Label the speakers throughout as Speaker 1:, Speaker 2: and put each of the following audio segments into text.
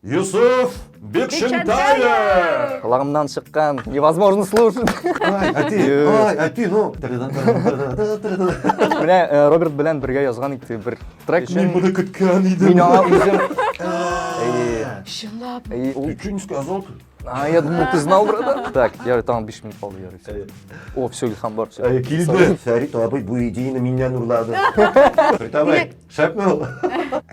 Speaker 1: Юсуф Бикшентаев! Колагымнан чыккан невозможно слушать. Ай, әти, ай, әти, ну. Менә э, Роберт белән бергә язган итте бер трек. Мин моны көткән идем. Мин аңа үзем. Чынлап. Ты что не сказал? А, я думал, ты знал, братан. Так, я там биш минут калды, ярый. О, все, Илхам бар, все. Килде. Фәрит абый бу идеяны миннән урлады. Фәрит абый, Шәпме ул?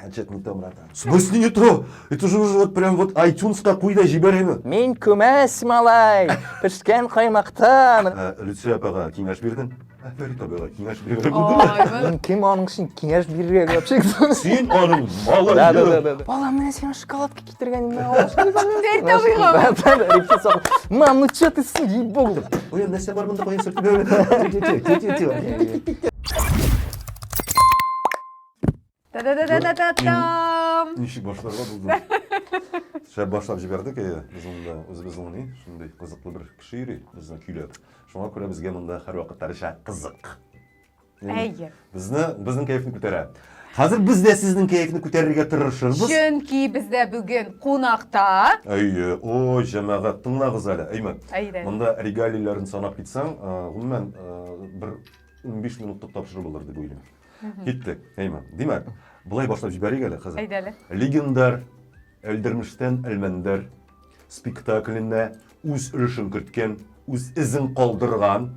Speaker 1: Әнчәт не то, братан. В смысле не то? Это же уже вот прям вот iTunes-ка куй да җибәр аны. Мин күмәс малай, пешкән каймактан. Ә, Люция апага киңәш бирдең? Ә, Фәрит абыга киңәш бирдең. Ой, бу- Мин кем аның өчен киңәш бирергә вообще? Син аның малы. Да, да, да, да, да. Балам, менә сиңа шоколадка Китергәнемне Мам, ну че ты, ей богу. Ой, нәрсә бар монда куясың? Та-да-да-да-да-дам! Ничек башларга булды? Шәп башлап җибәрдек, әйе. Без монда үзебез уйный, шундый кызыклы бер кеше йөри, безне көйләп. Шуңа күрә безгә монда һәрвакыт Ришат кызык. Әйе. Безне, безнең кәефне күтәрә. Хәзер без дә сезнең кәефне күтәрергә тырышырбыз. Чөнки бездә бүген кунакта. Әйе, о, җәмәгать, тыңлагыз әле, Әймән. Әйдә. Монда регалийләрен санап китсәң, гомумән, бер 15 минутлык тапшыру булыр дип уйлыйм. Киттек, Әймән. Димәк, былай башлап җибәрик әле хәзер. Әйдә әле. Легендар Әлдермештән Әлмәндәр спектаклендә үз өлешен керткән үз эзен калдырган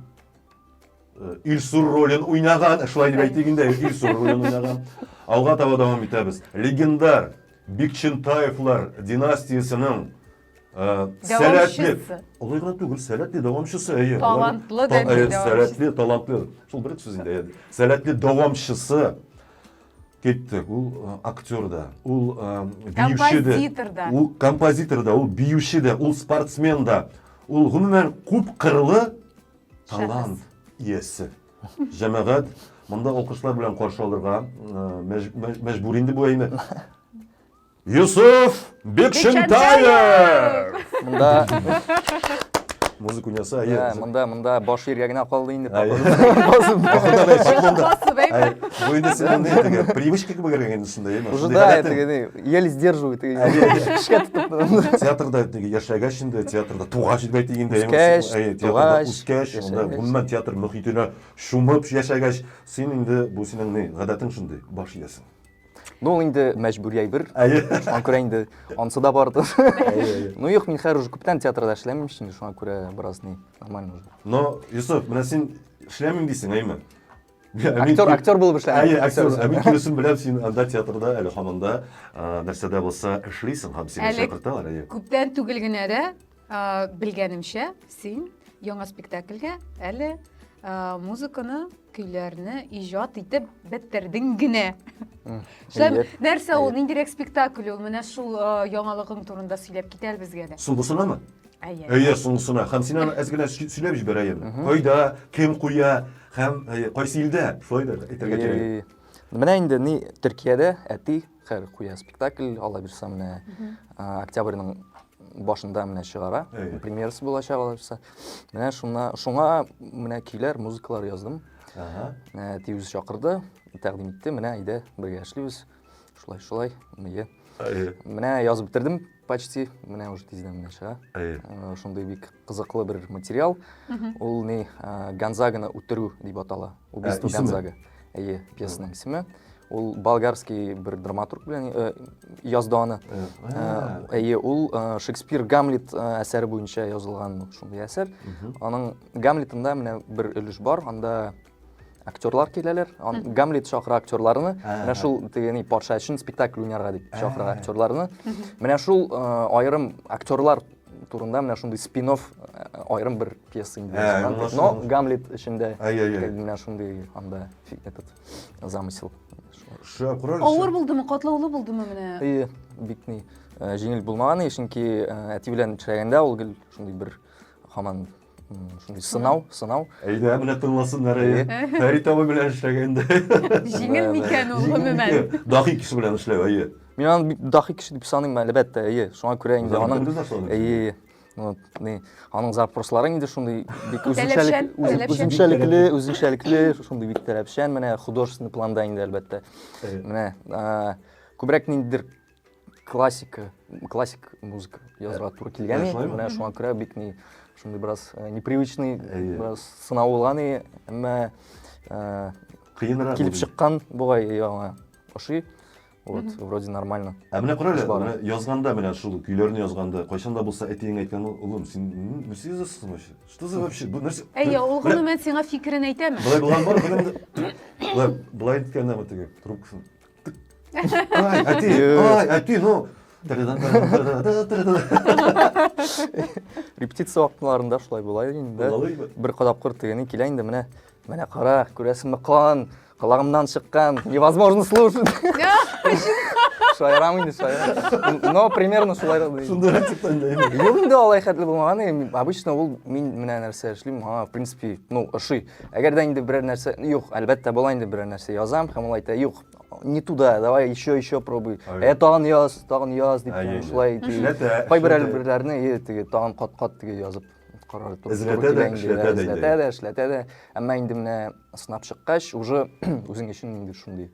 Speaker 1: Илсур ролен уйнаган, шулай дип әйтик инде, Илсур ролен уйнаган. Алга таба дәвам итәбез. Легендар Бикчентаевлар династиясенең э, сәләтле, олай гына түгел, сәләтле дәвамчысы, әйе. Талантлы дә э, Сәләтле, талантлы. Шул бер сүз инде, әйе. Сәләтле дәвамчысы кеттек. Ул э, актер да, ул биюче дә. Композитор да. Ул композитор да, ул биюче дә, ул спортсмен да. Ул гомумән күп кырлы Талант иясе. Җәмәгать монда алкышлар белән каршы алырга мәҗбүр инде бу әйме. Юсуф Бекшентаев! Монда музыка уйнаса, әйе. Ә, монда, монда баш иргә генә калды инде. Басып, басып. Бу инде сезнең привычка кебек инде шунда, әйе. Уже да, әйтегез, Еле сдерживает. Театрда яшәгәч инде, театрда тугач дип әйтик инде. Үскәч, тугач. Үскәч, анда гомумән театр мөхитенә шумып яшәгәч, син инде бу синең ни, гадәтең шундый, баш иясең. Ну, инде мәҗбүри әйбер. Шуңа күрә инде ансы да барды. Ну, юк, мин хәзер уже күптән театрда эшләмим, шуңа күрә бераз ни, нормально уже. Но, Юсуф, менә син эшләмим дисең, әйме? Актер, актер булып эшлә. Әйе, актер. Ә мин күрсен беләм, син анда театрда, әле хаманда нәрсәдә булса эшлисең һәм сине чакырталар, әйе. Күптән түгел генә дә белгәнемчә, син яңа спектакльгә әле музыканы, көйләрне иҗат итеп бетердең генә. Нәрсә ул, ниндирәк спектакль ул? Менә шул яңалыгың турында сөйләп китәл безгә дә. Соңгысынамы? Әйе. Әйе, соңгысына. Һәм син аны әз генә сөйләп җибәр, әйе. Кайда, кем куя һәм кайсы илдә? Шулай да әйтергә кирәк. Менә инде ни Төркиядә әти хәр куя спектакль, алла бирса менә октябрьнең башында менә чыгара. Премьерасы булачак алла бирса. Менә шуңа, шуңа менә көйләр, музыкалар яздым. Әти үзе чакырды, тәкъдим итте, менә әйдә бергә эшлибез. шулай шулай иә менә язып бетердем почти менә уже тиздән менә чыга ә, шундый бик кызыклы бер материал ул не ә, гонзаганы үтерү дип атала убийство ә, гонзага әйе пьесаның исеме ул болгарский бер драматург белән э, язды аны әйе э, ул э, шекспир гамлет әсәре буенча язылган шундый әсәр аның гамлетында менә бер өлеш бар анда актерлар киләләр гамлет шакыра актерларны менә шул тегени патша өчен спектакль уйнарга дип шакыра актерларны менә шул э, аерым актерлар турында менә шундый спин э, аерым бер пьеса инде э, но гамлет эчендә менә шундый анда этот замысел авыр булдымы катлаулы булдымы менә бик ни җиңел булмаган чөнки әти белән эшләгәндә ул гел шундый бер хаман шундый сынау сынау әйдә менә тыңласыннар әйе фәрит абый белән эшләгәндә җиңел микән ул гомумән дахи кеше белән эшләү әйе мин аны бик дахи кеше дип саныйм әлбәттә әйе шуңа күрә инде аның әйе вот не аның запрослары инде шундый бик үзенчәлек үзенчәлекле үзенчәлекле шундый бик таләпчән менә художественный планда инде әлбәттә менә күбрәк ниндидер классика классик музыка язуга туры килгән Ә, шулаймы? менә шуңа күрә бик ни шундый бераз э, непривычный Әйе. бераз сынау булган и әмма э, Кыенрак. килеп булды. чыккан бугай и аңа ошый вот вроде нормально Ә менә карале, Эш бар. менә язганда менә шул көйләрне язганда, кайчан да булса әтиең әйткән ул, улым, син м, нәрсә язасың вообще? Что за вообще? Бу нәрсә? Әйе, ул Менә гомумән сиңа фикерен әйтәме? Былай булган бар, белем. Былай былай әйткәндә ме теге трубкасын. Ай, әти, ай, әти, ну. Репетиция вакытларында шулай була инде. Бер кадап кыр тегене килә инде менә. Менә кара, күрәсеңме кан, колагымнан чыккан, невозможно слушать. Шаярам инде, шаярам. Но примерно шулай да. Шунда рецептан да. Юк инде алай хәтле булмаган. Обычно ул мин менә нәрсә эшлим. Ага, в принципе, ну, ошый. Әгәр дә инде берәр нәрсә, юк, әлбәттә була инде берәр нәрсә язам, һәм ул әйтә, юк, не туда, давай еще, еще пробуй. Ә тагын яз, тагын яз дип, шулай кайбер әлберләрне теге тагын кат-кат теге язып карар туры. Эзләтә дә, эшләтә дә. Эзләтә дә, эшләтә дә. Әмма инде менә сынап чыккач, уже үзең өчен инде шундый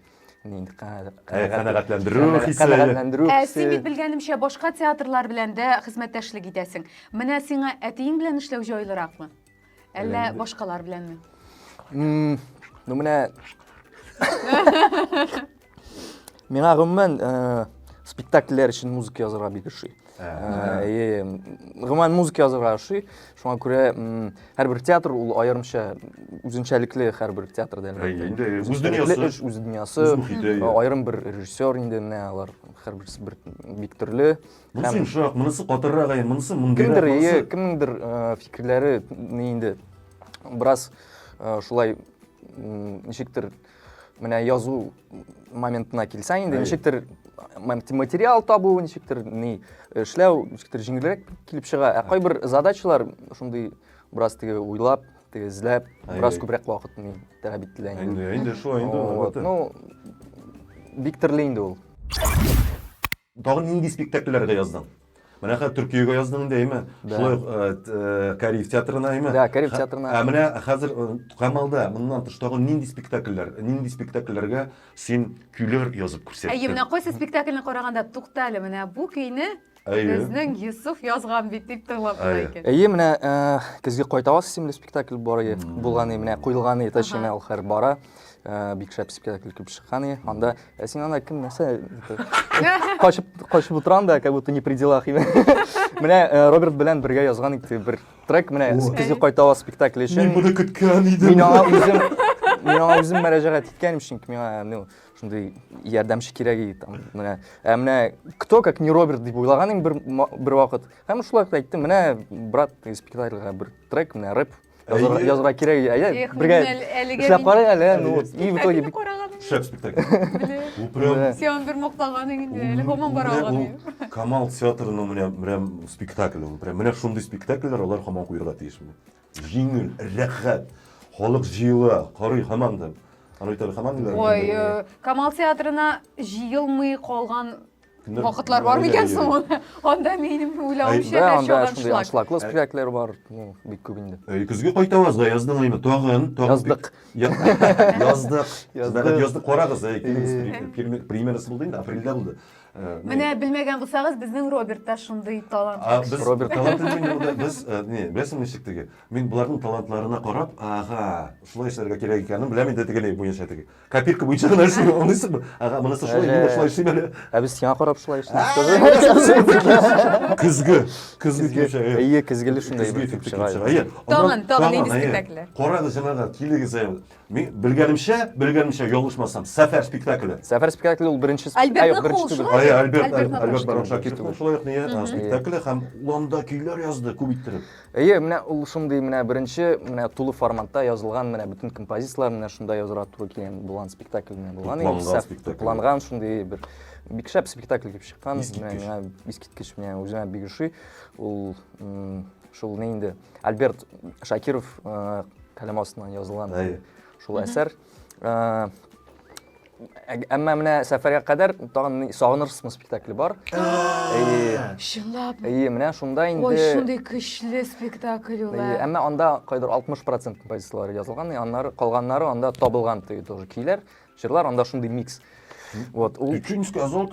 Speaker 1: инде канәгатьләндерү хисе канәгатьләндерү хисе ә син бит белгәнемчә башка театрлар белән дә хезмәттәшлек итәсең менә сиңа әтиең белән эшләү җайлыракмы Әллә Белән- башкалар беләнме? М, Ну менә Миңа гомумән э, спектакльләр өчен музыка язырга бик ошый. Э, э, м, Гомумән музыка язырга ошый. Шуңа күрә м, һәрбер театр ул аерымча үзенчәлекле һәрбер театр да әлбәттә. Әйе, инде, үз Үзенчәлекле дөньясы. эш, үз дөньясы. Үз мохите, Э, иә. Аерым бер режиссер инде менә алар һәрберсе бер бик төрле. Монысы Һәм- йомшак, монысы катыррак әйе, монысы мондыйрак, Кемдер, монысы... ие, кемнеңдер э, фикерләре не инде бераз э, шулай м, ничектер менә язу моментына килсә инде Әйе. ничектер м, материал табу, ничектер ни эшләү, ничектер җиңелрәк килеп чыга. Ә кайбер задачалар шундый бераз теге уйлап, теге эзләп, Әйе. бераз күбрәк вакыт ни таләп ителә инде. Инде, инде шулай инде, Вот, албәттә. Ну, бик төрле инде ул. Тагын нинди спектакльләргә яздың? Менә хәзер Төркиягә яздың инде, әйме? Шулай ук э, э, Кариев театрына, әйме? Да, Кариев театрына. Ә менә хәзер э, Камалда моннан тыш тагын нинди спектакльләр, нинди спектакльләргә син көйләр язып күрсәттең? Әйе, менә кайсы спектакльне караганда, тукта әле, менә бу көйне безнең Йосыф язган бит дип тыңлап кына икән. Әйе, менә көзге кайтаваз исемле спектакль бар иде, булган иде, менә куелган иде, точнее, ул хәзер бара. Э, бик шәп спектакль килеп чыккан и анда э, син анда кем нәрсә качып качып утырам да как будто не при делах менә э, роберт белән бергә язган итте бер трек менә көзге кайтава спектакль өчен мин моны көткән идем мин аңа үзем мин аңа үзем мөрәҗәгать иткәнем чөнки миңа ну шундый ярдәмче кирәк иде там менә ә менә кто как не роберт дип уйлаган идем бер бер вакыт һәм шулай әйттем менә брат спектакльга бер трек менә рэп Язарга, язарга кирәк. Әйе, бергә эшләп карый әле. Ну, и в итоге бик шәп спектакль. Бу прям Сион бер мактаганың инде, әле һаман бара алган. Камал театрының менә прям спектакль ул. Прям менә шундый спектакльләр алар һаман куярга тиеш. Җиңел, рәхәт. Халык җыела, карый һаман да. Аны итәр һаман да. Ой, Камал театрына җыелмый калган Кемдер Вакытлар бар микән Мариләгә соң йөри. ул? Анда минем Бә, уйлавымча һәр анда чагын шундый шлак. аншлаглы спектакльләр бар, ну, бик күп инде. Әй, көзге кайтабыз да, язны гайме, тагын, тагын. Яздык. Я- Яздык. Сез бәхет Яздык. язды, карагыз, әй, килегез, Э. пре- премьер- премьерасы булды инде, апрельдә булды. Э, ну, Менә белмәгән булсагыз, безнең Роберт та шундый талант. А без Роберт. талант инде булды. Без, э, не, беләсең ничек теге? Мин боларның талантларына карап, ага, шулай эшләргә кирәк икәнен беләм инде теге ни буенча теге. копилка буенча гына эшли аңлыйсыңбы ага монысы шулай мин дә шулай эшлим әле ә без сиңа карап шулай эшлибез көзге көзге килеп чыга әйе көзгеле шундай бер килеп чыга әйе тагын тагын нинди спектакльләр карагыз җәмәгать килегез әйе мин белгәнемчә белгәнемчә ялгышмасам сәфәр спектакле сәфәр спектакле ул беренче әйе альберт альберт барон шакировның шулай ук спектакле һәм ул анда көйләр язды күп иттереп Әйе, менә ул шундый менә беренче менә тулы форматта язылган менә бөтен композицияләр менә шунда язырга туры килгән булган спектакль менә булган иде. Тупланган спектакль. Тупланган шундый бер бик шәп спектакль килеп чыккан. Менә искиткеч менә үзенә бик ошый. Ул шул не инде Альберт Шакиров э, каләм астыннан язылган шул әсәр. Э, Әмма менә сәфәргә кадәр тагын сагынырсызмы спектакле бар. Чынлап. Әйе, менә шунда инде. Ой, шундый көчле спектакль ул. Әйе, әмма анда кайдыр 60% композицияләре язылган, аннары калганнары анда табылган төе тоже көйләр, җырлар анда шундый микс. Вот, ул Икенче сказал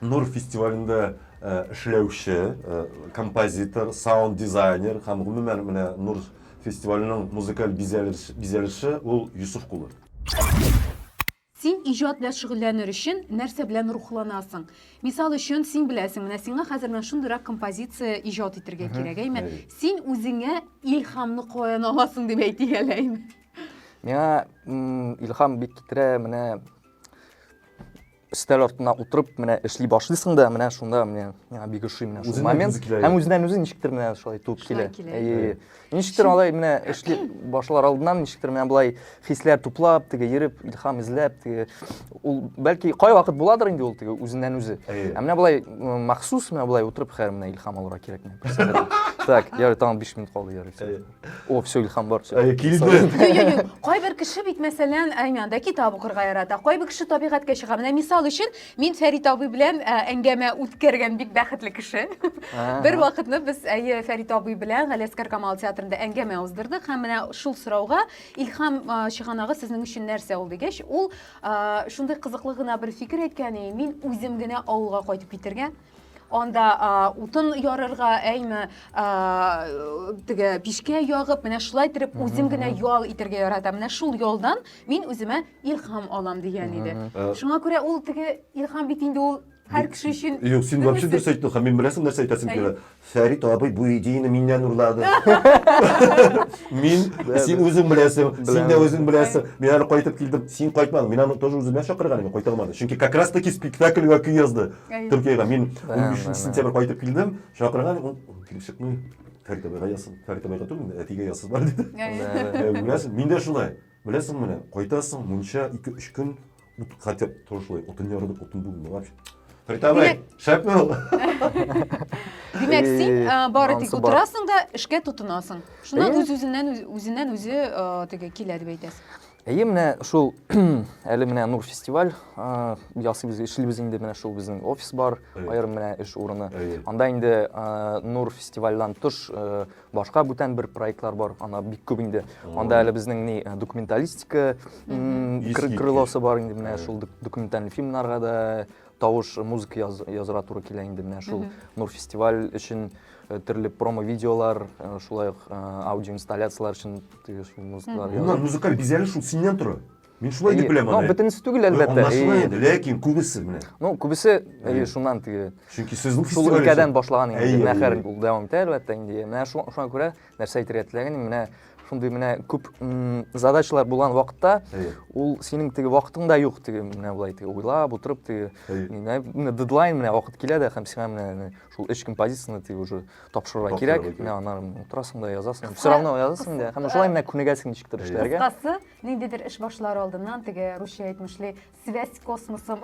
Speaker 1: Нур фестивалендә эшләүче композитор, саунд дизайнер һәм гомумән менә Нур фестиваленең музыкаль бизәлеше ул Йосыф кулы. Син иҗат белән шөгыльләнер өчен нәрсә белән рухланасың? Мисал өчен, син беләсең, менә сиңа хәзер менә шундыйрак композиция иҗат итергә кирәк, әйме? Син үзеңә илһамны каян аласың дип әйтик әле, әйме? Миңа илһам бик китерә менә өстәл артына утырып менә эшли башлыйсың да менә шунда менә миңа бик ошый менә шул момент һәм үзеннән үзе ничектер менә шулай туып килә әйе ничектер алай менә эшли башлар алдыннан ничектер менә болай хисләр туплап теге йөреп илһам эзләп теге ул бәлки кайвакыт буладыр инде ул теге үзеннән үзе ә менә болай махсус менә болай утырып хәер менә илһам алырга кирәкми так ярый тагын биш минут калды ярый О, все, Илхам бар. Все. Әй, килде. Юк-юк, кайбер кеше бит, мәсәлән, әймәндә китап укырга ярата, кайбер кеше табигатькә чыга. Менә мисал өчен, мин Фәрит абый белән ә, әңгәмә үткәргән бик бәхетле кеше. Ага. Бер вакытны без әйе Фәрит абый белән Галәскәр Камал театрында әңгәмә уздырдык һәм менә шул сорауга Илхам а, чыганагы сезнең өчен нәрсә ул дигәч, ул а, шундый кызыклы гына бер фикер әйткән, и, мин үзем генә авылга кайтып китәргә, анда ә, утын ярырга, әйме, ә, теге пишкә ягып, менә шулай итеп үзем генә ял итәргә яратам. Менә шул ялдан мин үземә илһам алам дигән иде. Э, Шуңа күрә ул теге илһам бит инде ул һәр кеше өчен Юк, син вообще дөрес әйттең, һәм мин беләсең нәрсә әйтәсем килә. Фәрит абый бу идеяны миннән урлады. Мин, син үзең беләсең, син дә үзең беләсең. Мин әле кайтып килдем, син кайтмадың. Мин аны тоже үземә чакырган идем, кайта алмады. Чөнки как раз таки спектакльгә көй язды. Төркиягә мин 13 сентябрь кайтып килдем, чакырган, ул килеп чыкмый. Фәрит абыйга язсын. Фәрит абыйга түгел, әтигә язсын бар диде. Беләсең, мин дә шулай. Беләсең менә, кайтасың, мунча 2-3 көн Ну, тут хотя бы тоже шулай, утын ярдык, утын бүгін, ну вообще. Фритабай, шәпме ул? Димәк, Э, син э, бары тик анысы бар. утырасың да эшкә тотынасың. Шуннан Э. үз-үзеннән үз- үзеннән үзе э, теге килә дип әйтәсең. Әйе, менә шул әле менә Нур фестиваль э, ясыйбыз, эшлибез инде менә шул безнең офис бар, Әйе. аерым менә эш урыны. Әйе. Анда инде э, Нур фестивальдән тыш э, башка бүтән бер проектлар бар ана бик күп инде анда әле безнең ни э, документалистика крылосы бар инде менә шул документальный фильмнарга да тавыш музыка яз, языра туры килә инде менә шул нур фестиваль өчен э, төрле промо видеолар э, шулай ук аудиоинсталляциялар өчен музыкалар музыкаль бизәлеш шул синнән тора Мин шулай дип беләм аны. Бөтенесе түгел әлбәттә. Аңлашыла инде, ләкин күбесе менә. Ну, күбесе әйе шуннан теге. Чөнки сезнең фестиваль. Шул өлкәдән башлаган инде. Мәхәр ул дәвам итә әлбәттә инде. Менә шуңа күрә нәрсә әйтергә теләгән, менә шундый менә күп задачалар булган вакытта ул синең теге вакытың да юк теге менә болай теге уйлап утырып теге менә дедлайн менә вакыт килә дә һәм сиңа менә шул эш композицияны теге уже тапшырырга кирәк менә аннан утырасың да язасың все равно язасың да һәм шулай менә күнегәсең ничектер эшләргә кыскасы Ниндидер эш башлар алдыннан теге русча әйтмешли связь космосом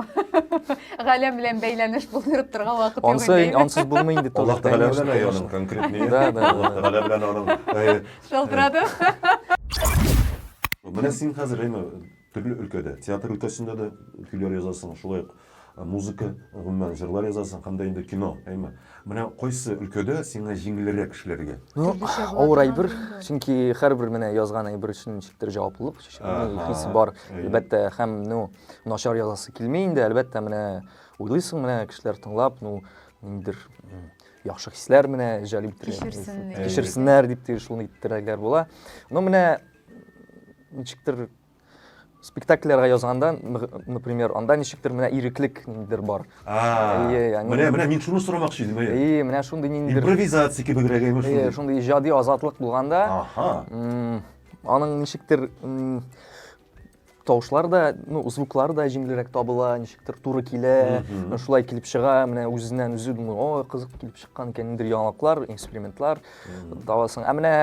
Speaker 1: галәм белән бәйләнеш булдырып торган вакыт юк Ансы, инде. ансыз булмый инде. Аллаһ Тәгалә белән әй аның конкретный. Да, да, да. Аллаһ Тәгалә белән аның. Шалтырады. Менә син хәзер әйме төрле өлкәдә, театр өлкәсендә дә көйләр язасың, шулай ук Музыка, гомумән, җырлар язасың һәм дә инде кино, әйме. Менә кайсы өлкәдә сиңа җиңелрәк эшләргә? Ну, авыр әйбер, чөнки һәрбер менә язган әйбер өчен ничектер җаваплылык хисе бар, әлбәттә, һәм, ну, начар язасы килми инде, әлбәттә, менә уйлыйсың, менә кешеләр тыңлап, ну, ниндидер яхшы хисләр менә җәлеп иттерә, кичерсеннәр дип, шундый теләкләр була. Ну, менә ничектер спектакльләргә язганда, например, анда ничектер менә иреклек ниндидер бар. Менә менә мин шуны сорамакчы идем, әйе. Әйе, менә шундый ниндидер импровизация кебегрәк әйме шундый. Әйе, шундый иҗади азатлык булганда, аның ничектер тавышлар да, ну, звуклар да җиңелрәк табыла, ничектер туры килә, шулай килеп чыга, менә үзеннән үзе думаю, о, кызык килеп чыккан икән, ниндидер яңалыклар, экспериментлар табасың. Ә менә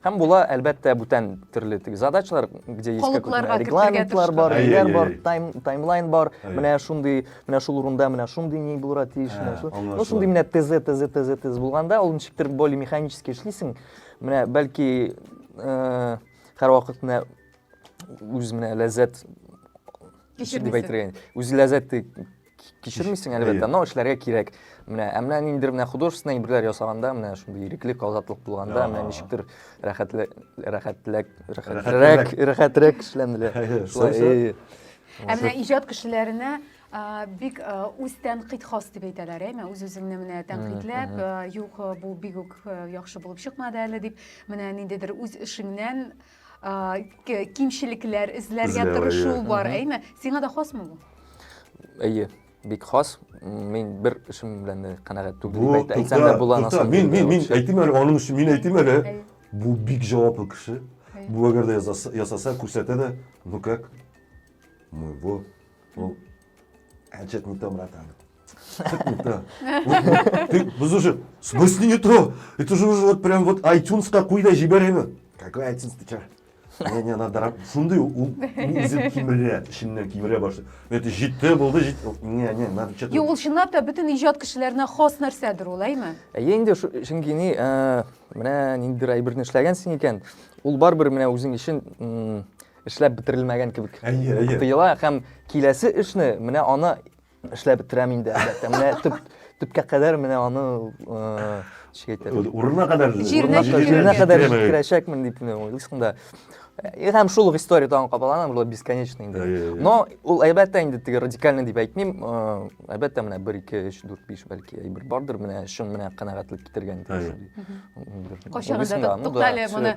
Speaker 1: Һәм була, әлбәттә, бүтән төрле теге задачалар, где есть Калыпларга какой-то кертергә регламентлар бар, тырышкан. ниләр Әй, әй, бар, әй. тайм, таймлайн бар, Әй. менә шундый, менә шул урында менә шундый ни булырга тиеш, Ә, менә шул. Ну, аңлашыла. шундый менә ТЗ, ТЗ, ТЗ, ТЗ булганда, ул ничектер более механически эшлисең. Менә бәлки э, һәрвакыт менә үз менә ләззәт Кичермисең. дип әйтергә. Үз ләззәт кичермисең әлбәттә но эшләргә кирәк менә ә менә ниндидер менә художественный әйберләр ясаганда менә шундый иреклек азатлык булганда менә ничектер рәхәтләк рәхәтләк рәхәтрәк рәхәтрәк эшләнелә шулай ә менә иҗат кешеләренә бик үз тәнкыйть хас дип әйтәләр әйме үз үзеңне менә тәнкыйтьләп юк бу бик үк яхшы булып чыкмады әле дип менә ниндидер үз эшеңнән кимчелекләр эзләргә тырышу бар, әйме? Сиңа да хасмы бу? Әйе, бик хас. Мин бер эшем белән дә канәгать түгел. Бу әйтсәм дә була насып. Мин мин мин әйтим әле, аның өчен мин әйтим әле. Бу бик җаваплы кеше. Бу әгәр дә ясаса, күрсәтә дә, ну как? Мы его А что не то, братан? Что-то не то. Ты, вы уже, в смысле не то? Это же уже вот прям вот iTunes какой да жиберина. Какой iTunes ты чё? не не надо раб шунды ул үзен кимерә эченнән кимерә башлый это җитте булды җит не не надо что-то юк ул чынлап та бөтен иҗат кешеләренә хас нәрсәдер ул әйме әйе инде чөнки ни менә ниндидер әйберне эшләгәнсең икән ул барыбер менә үзең өчен эшләп бетерелмәгән кебек әйе, әйе. тоела һәм киләсе эшне менә аны эшләп бетерәм инде әлбәттә менә төп төпкә кадәр менә аны урынына кадәр җиренә кадәр җиткерәчәкмен дип уйлыйсың да һәм шул ук история тагын кабалана бул бесконечно инде но ул әлбәттә инде теге радикальный дип әйтмим әлбәттә менә бер ике өч дүрт биш бәлки әйбер бардыр менә чын менә канәгатьлек китергән кайчагында туктале моны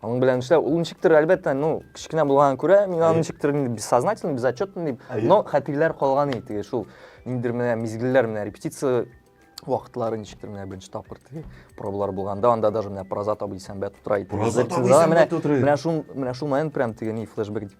Speaker 1: Аның белән эшләү, ул ничектер, әлбәттә, ну, кечкенә булганга күрә, мин аны ничектер инде бессознательно, безотчетно дип, но хәтерләр калган иде теге шул ниндидер менә мизгелләр менә репетиция вакытлары ничектер менә беренче тапкыр теге пробалар булганда, анда даже менә проза табы дисәм бәт утыра иде. Проза табы дисәм бәт утыра иде. Менә шул, менә шул момент прям теге ни флешбэк дип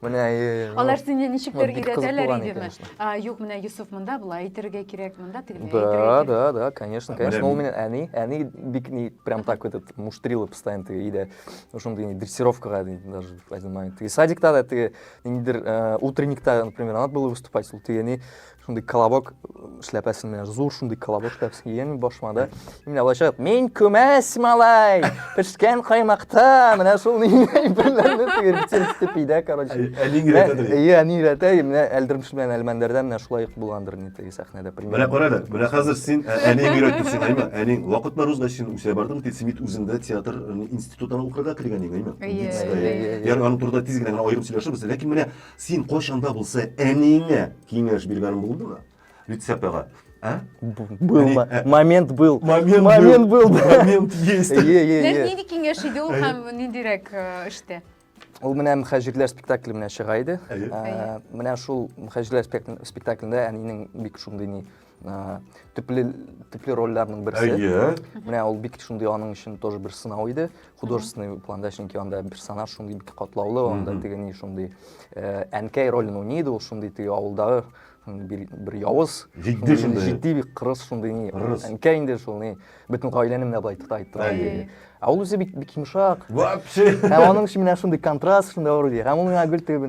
Speaker 1: Менә Алар сине ничектер өйрәтәләр идеме? Юк, менә Юсуф монда болай әйтергә кирәк, монда тегеләй әйтергә кирәк. Да, да, да, конечно, конечно. Ул мине әни, әни бик ни прям так этот муштрила постоянно теге иде. Ошондый не дрессировкага даже один момент. Теге садикта да теге ниндидер утренникта, например, надо было выступать, ул теге не шундый колобок эшләпәсен менә зур шундый колобок эшләпәсен кигән башыма да менә былай чыгып мин күмәс малай пешкән каймакта менә шул әйберләрне тегерсеп пидә короче әни өйрәтә иә әни өйрәтә менә әлдермеш белән әлмәндәрдә менә шулай ук булгандыр инде теге сәхнәдә менә кара әле менә хәзер син әниң өйрәтте сиңа әйме әниң вакыт бар узгач син үсә бардың тик син бит үзеңдә театр институтына укырга кергән идең әйме ягъни аның турында тиз генә генә аерым сөйләшербез ләкин менә Син кайчан да булса әниеңә киңәш биргәнең булдымы? Люцеп ага. А? Был ә- момент был. Момент Момент был. был. Момент есть. Е, е, е. Нәр- Нинди киңәш иде ул һәм ниндирәк э, эштә? Ул менә мөхәҗирләр спектакле менә чыга иде. Әйе. Ә, Менә шул мөхәҗирләр спектакль- спектаклендә әнинең бик шундый ни ә, төпле төпле рольләрнең берсе әйе менә ул бик шундый аның өчен тоже бер сынау иде художественный планда чөнки анда персонаж шундый бик катлаулы анда теге ни шундый ә, әнкәй ролен уйный иде ул шундый теге авылдагы бер, бер явыз җитди шундый җитди бик кырыс шундый ни әнкәй инде шул ни бөтен гаиләне менә былай тота итте әйе Ә ул үзе бик бик йомшак. Вообще. Һәм аның өчен менә шундый контраст шунда бар ди. Һәм ул миңа гел теге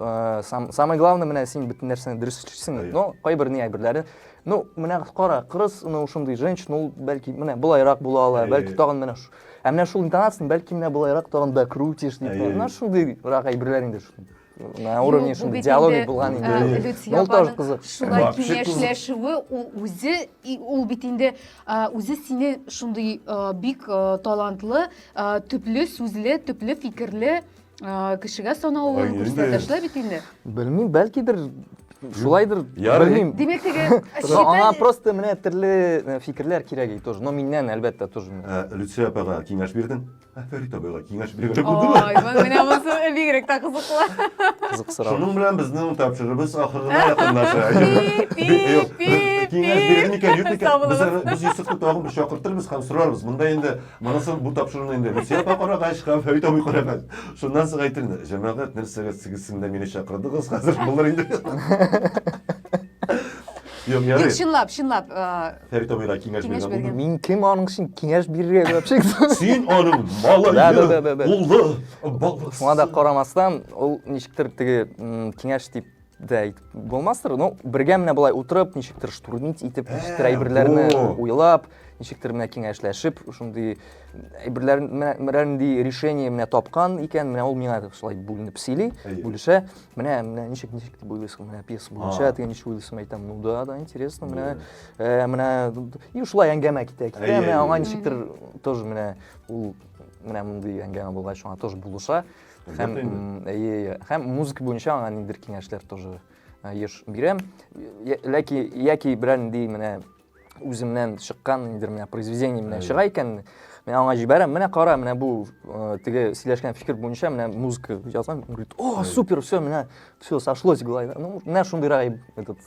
Speaker 1: Э, сам, самое главное менә син бөтен нәрсәне дөрес эшлисең но кайбер не әйберләре ну менә кара кырыс ну шундый женщина ул бәлки менә болайрак була ала бәлки тагын менә ә менә шул интонацияны бәлки менә болайрак тагын да крутишь дип менә шундыйрак әйберләр инде на уровне шундый диалоги булган инде ул тоже кызык шулай киңәшләшүе ул үзе ул бит инде үзе сине шундый бик талантлы төпле сүзле төпле фикерле А, Кешегә санавын Ай, инде. күрсәтәшләр бит инде. Белмим, бәлкидер шулайдыр, Ярый. белмим. Димәк теге Но аңа читән- просто менә төрле э, фикерләр кирәк и тоже. Но миннән әлбәттә тоже. Ә, Люция апага киңәш бирдең. Ә Фәрит абыйга киңәш биргән булдымы? Ой, мен- менә монысы бигрәк тә кызыклы. Кызык сорау. Шуның белән безнең тапшырыбыз ахырына якынлаша. Пи, Юк, пи, Киңәш пи. бирелми икән, юк икән. Сау Без булыгыз. аны- без Йосыфны тагын бер чакыртырбыз һәм сорарбыз. Монда инде Монысы бу тапшыруны инде Люция апа карагач һәм Фәрит абый карагач, шуннан соң әйтер инде. Җәмәгать, нәрсәгә сигезсен дә мине чакырдыгыз, хәзер булыр инде. Юк, ярый. Тик чынлап, чынлап. Фәрит абыйга киңәш биргән булдым. Мин кем аның өчен киңәш бирергә дип чыкты? Син аның малае, улы, баласы. Шуңа да карамастан, ул ничектер теге киңәш дип дә әйтеп булмастыр но бергә менә былай утырып ничектер штурмить итеп ә, ничектер әйберләрне уйлап ничектер менә киңәшләшеп шундый әйберләр менә нинди решение менә тапкан икән менә ул миңа шулай бүленеп сөйли бүлешә менә менә ничек ничек дип уйлыйсың менә пьеса буенча теге ничек уйлыйсың әйтәм ну да да интересно менә ә, менә и шулай әңгәмә китә китә менә аңа ничектер тоже менә ул менә мондый әңгәмә булгач аңа тоже булыша Һәм, әйе, әйе. Һәм музыка буенча аңа ниндер киңәшләр тоже еш бирәм. Ләки, яки берәр нинди менә үземнән чыккан ниндер менә произведение менә чыга икән, мен аңа җибәрәм, менә кара, менә бу теге сөйләшкән фикер буенча менә музыка язган, говорит, о, супер, все, менә все сошлось, главное. Ну, менә шундыйрак этот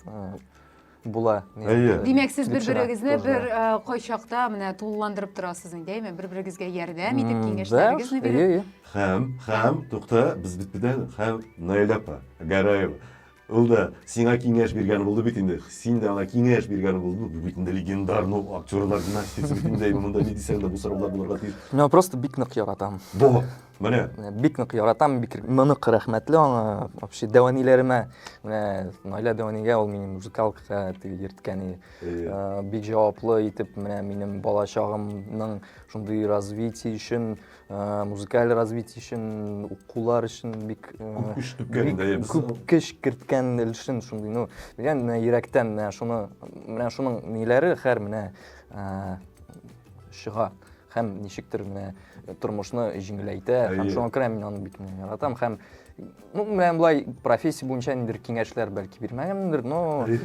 Speaker 1: була. Әйе. Димәк, сез бер-берегезне бер кайчакта менә тулыландырып торасыз инде, әйме? Бер-берегезгә ярдәм итеп, киңәшләрегезне биреп. Хәм, хәм, тукта, без бит бедән, хәм, Наилә апа, Гараева. Ул да сиңа киңәш биргән булды бит инде. Син дә аңа киңәш биргән булдың. Бу бит инде легендар, ну, актерлар династиясе бит инде, әйме, монда ни дисәң дә бу сораулар булырга тиеш. Мин аны просто бик нык яратам. Бу. Менә. Бик нык яратам, бик нык рәхмәтле аңа. Вообще дәваниләремә, менә Наилә дәванигә ул минем музыкалкага йөрткән и. Бик җаваплы итеп менә минем бала чагымның шундый развитие өчен, музыкаль развитие өчен, укулар өчен бик күп көч түккән дә ябыз. Күп көч керткән өчен шундый, ну, дигән менә йөрәктән менә шуны, менә шуның ниләре хәр менә чыга. һәм ничектер менә э, тормышны җиңеләйтә һәм шуңа күрә мин аны бик яратам һәм ну менә былай профессия буенча ниндидер киңәшләр бәлки бирмәгәнмендер но э,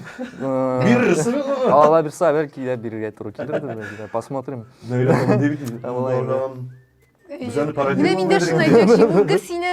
Speaker 1: бирерсең алла бирса бәлки дә бирергә туры килердер посмотрим Без әле пародировать Менә мин дә шуны әйтмәкче, бүген сине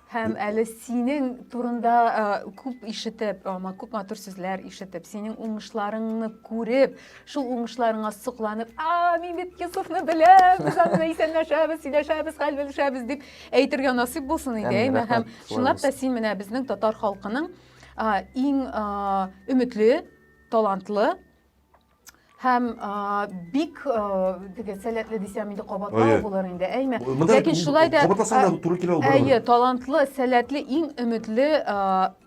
Speaker 1: Һәм әле синең турында э, күп ишетеп, ама күп матур сүзләр ишетеп, синең уңышларыңны күреп, шул уңышларыңа сокланып, а, мин бит Йосыфны беләм, без аны исәнләшәбез, сөйләшәбез, хәл белешәбез дип әйтергә насыйп булсын иде, әйме. Һәм чынлап та син менә безнең татар халкының иң өметле, талантлы һәм бик теге сәләтле дисәм инде кабатлау булыр инде әйме ләкин шулай да кабатласаң туры килә ул әйе талантлы сәләтле иң өметле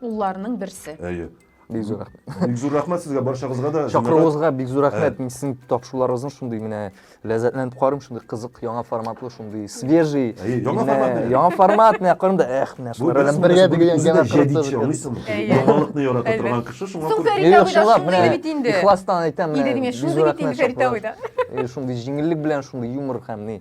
Speaker 1: улларының берсе әйе бик зур рәхмәт бик зур рәхмәт сезгә баршагызга да чакыруыгызга бик зур рәхмәт мин сезнең тапшыруларыгызны шундый менә ләззәтләнеп карыйм, шундый кызык, яңа форматлы, шундый свежий. Әйе, яңа Менә формат. Яңа формат, менә карыйм да, эх, менә шулар белән бергә дигән генә җәдитче, аңлыйсыңмы? Яңалыкны ярата торган кеше шуңа күрә. Фәрит абый да шундый бит инде. Ихластан әйтәм, менә. Идегез, шундый бит инде Фәрит абый да. Шундый җиңеллек белән, шундый юмор һәм ни,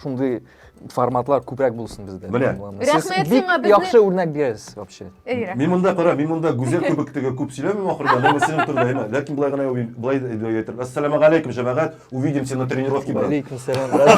Speaker 1: шундый форматлар күбрәк булсын бездә. Менә. Сез бик яхшы үрнәк бирәсез вообще. Мин монда кара, мин монда гүзәл кебек теге күп сөйләмим ахырда, әмма синең турында әйме. Ләкин болай гына уйлыйм, болай әйтер. Ассаламу галәйкүм, җәмәгать. Увидимся на тренировке, брат. Галәйкүм сәлам, брат.